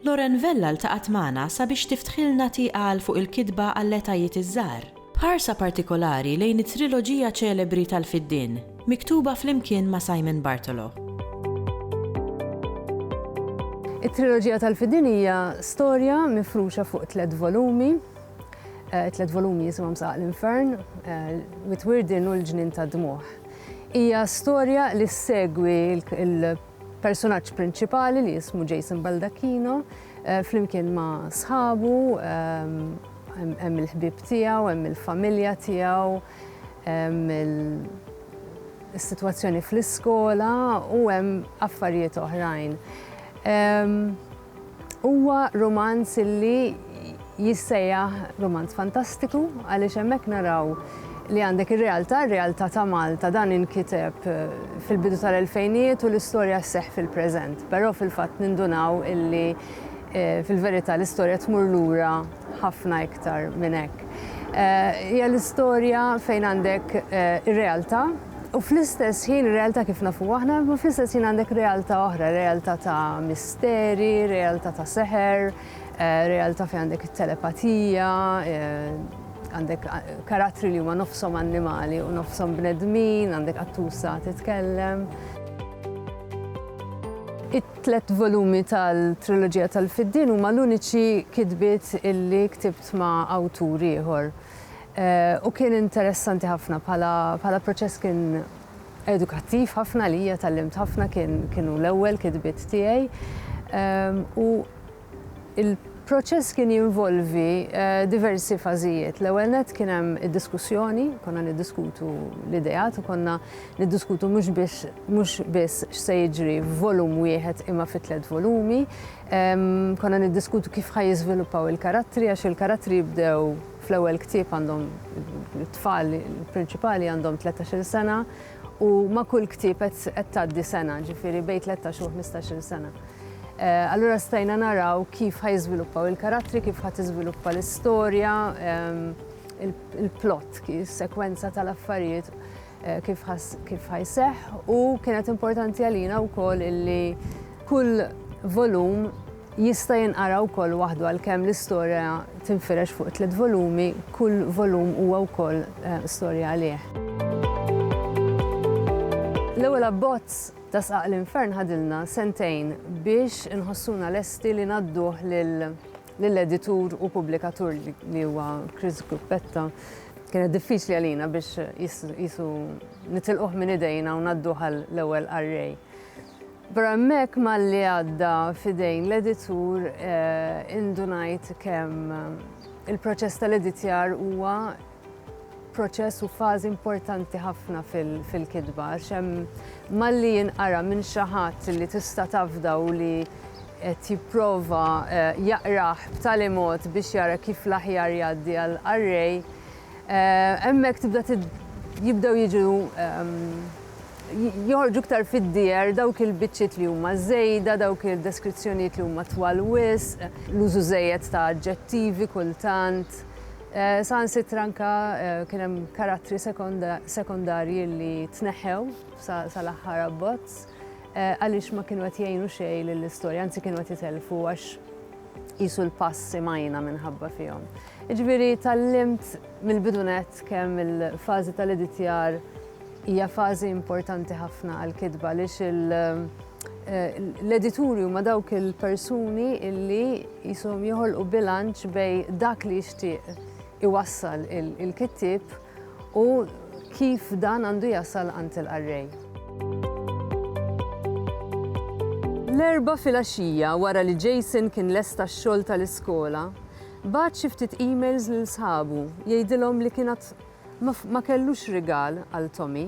Lauren Vella ltaqgħet magħna sabiex tiftħilna tieqa għal Fuq il-Kitba għall-Etajiet iż-Żgħar, b'ħarsa partikolari lejn it-triloġija ċelebri tal-Fiddien, miktuba flimkien ma' Simon Bartolo. It-triloġija tal-Fiddien hija storja mifruxa fuq tliet volumi. It-tliet volumi jisimhom Saqaq l-Infern, Wied Wirden u L-Ġnien tad-Dmugħ. Hija storja li ssegwi Persunaġġ prinċipali li jismu Jason Baldacchino flimkien ma' sħabu, hemm il-ħbieb tiegħu, hemm il-familja tiegħu, hemm is-sitwazzjoni fl-iskola u hemm affarijiet oħrajn. Huwa rumanz li jissejjaħ rumanz fantastiku għaliex hemmhekk naraw li għandek ir-realtà, r-realtà ta' Malta dan inkiteb fil-bidu tal-elfejnijiet u l-istorja sseħħ fil-preżent. Però fil-fatt nindunaw illi fil-verità l-istorja tmur lura ħafna iktar minn hekk. Hija l-istorja fejn għandek ir-realtà, U fl-istess ħin, ir-realtà kif nafuha aħna, imma fl-istess ħin għandek realtà oħra, realtà ta' misteri, realtà ta' seħer, realtà fejn għandek it-telepatija, għandek karattri li huma nofshom annimali u nofshom bnedmin, għandek qattusa titkellem. It-tliet volumi tal-triloġija tal-Fiddien huma l-uniċi kitbiet illi ktibt ma' awtur ieħor. u kien interessanti ħafna bħala bħala proċess kien edukattiv ħafna għalija tallimt ħafna kien kienu l-ewwel kitbiet tiegħi u il-proċess kien jinvolvi diversi fażijiet. L-ewwel nett kien hemm id-diskussjoni, konna niddiskutu l-ideat u konna niddiskutu mhux biex mhux biss x'se jiġri f'volum wieħed imma fi tliet volumi. Konna niddiskutu kif ħa jiżviluppaw il-karattri għax il-karattri jibdew fl-ewwel ktieb għandhom it-tfal il-prinċipali għandhom tlettax-il sena u ma' kull ktieb qed tgħaddi sena, ġifieri bejn tlettax u ħmistax-il sena. Allura stajna naraw kif ħa jiżviluppaw il-karattri, kif ħa tiżviluppa l-istorja, il-plot, is-sekwenza tal-affarijiet. kif ħa kif ħa jseħħ u kienet importanti għalina wkoll illi kull volum jista' jinqara wkoll waħdu għalkemm l-istorja tinfirex fuq tliet volumi, kull volum huwa wkoll eh, storja għalih. L-ewwel abbozz ta' sqaq l-infern ħadilna sentejn biex inħossuna lesti li nadduh lil lill-editur u pubblikatur li huwa Chris Gruppetta, kienet diffiċli għalina biex qisu nitilquh minn idejna u ngħadduh għal l-ewwel qarrej. Però hemmhekk malli għadda f'idejn l-editur indunajt kemm il-proċess tal-editjar huwa proċess u fażi importanti ħafna fil-kitba għax hemm malli jinqara minn xi ħadd li tista' tafda u li qed jipprova eh, jaqrah b'tali mod biex jara kif l-aħjar jgħaddi għal qarrej. Eh, hemmhekk tibda jibdew jiġu ehm, joħorġu ktar fid-dier dawk il-biċċiet li huma żejda, dawk il-deskrizzjonijiet li huma twal wisq, l-użu żejjed ta' aġġettivi kultant. Saħansitra anke kien hemm karattri sekondarji li tneħħew sal-aħħar abbozz għaliex ma kienu qed jgħinu xejn lill-istorja, anzi kienu qed jitellfu għax qisu l-pass imgħajna minħabba fihom. Jiġifieri tgħallimt mill-bidu nett kemm il-fażi tal-editjar hija fażi importanti ħafna għall-kitba għaliex L-edituri huma dawk il-persuni illi jisom joħolqu bilanċ bej dak li jixtieq iwassal il-kittib u kif dan għandu jasal għand il-qarrej. L-Erbgħa filgħaxija wara li Jason kien lesta x-xogħol tal-iskola, bagħat xi ftit emails lil sħabu jgħidilhom li kien għad Ma ma kellux rigal għal Tommy.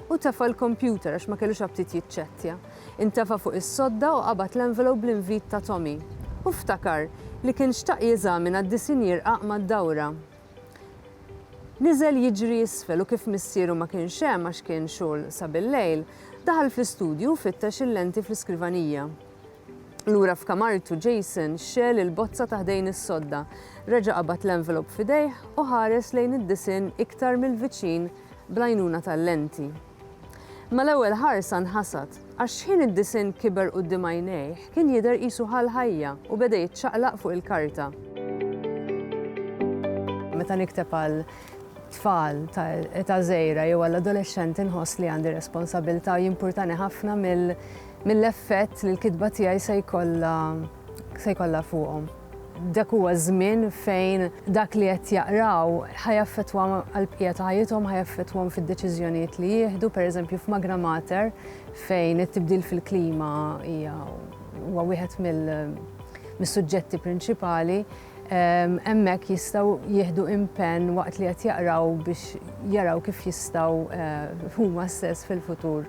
Hu tefa' l-kompjuter għax ma kellux aptit jiċċettja. Intefa' fuq is-sodda u qabad l-envelope bl-invit ta' Tommy. Hu ftakar li kien xtaq jeżamina d-disinn jirqaq mad-dawra. Niżel jiġri isfel u kif missieru ma kienx hemm għax kien xogħol sa bil-lejl, daħal fl-istudju u fittex il-lenti fl-iskrivanija. Lura f'kamartu Jason xegħel il-bozza ta' ħdejn is-sodda, reġa' qabad l-envelop f'idejh u ħares lejn id-disinn iktar mill-viċin bl-għajnuna tal-lenti. Mal-ewwel ħarsa nħasad, għax x'ħin id-disinn kiber quddiem għajnejh kien jidher qisu ħa l-ħajja u beda jiċċaqlaq fuq il-karta. Meta nikteb għal tfal ta' età żgħira jew għall-adolexxenti nħoss li għandi responsabbiltà u jimpurtani ħafna mill mill-effett li l-kitba tiegħi se jkollha se jkollha fuqhom. Dak huwa ż-żmien fejn dak li qed jaqraw ħa jaffettwa għall-bqija ta' ħajjithom, ħa jaffettwahom fid-deċiżjonijiet li jieħdu, pereżempju f'Magra Mater fejn it-tibdil fil-klima hija huwa wieħed mill mis-suġġetti prinċipali, hemmhekk jistgħu jieħdu impenn waqt li qed jaqraw biex jaraw kif jistgħu huma stess fil-futur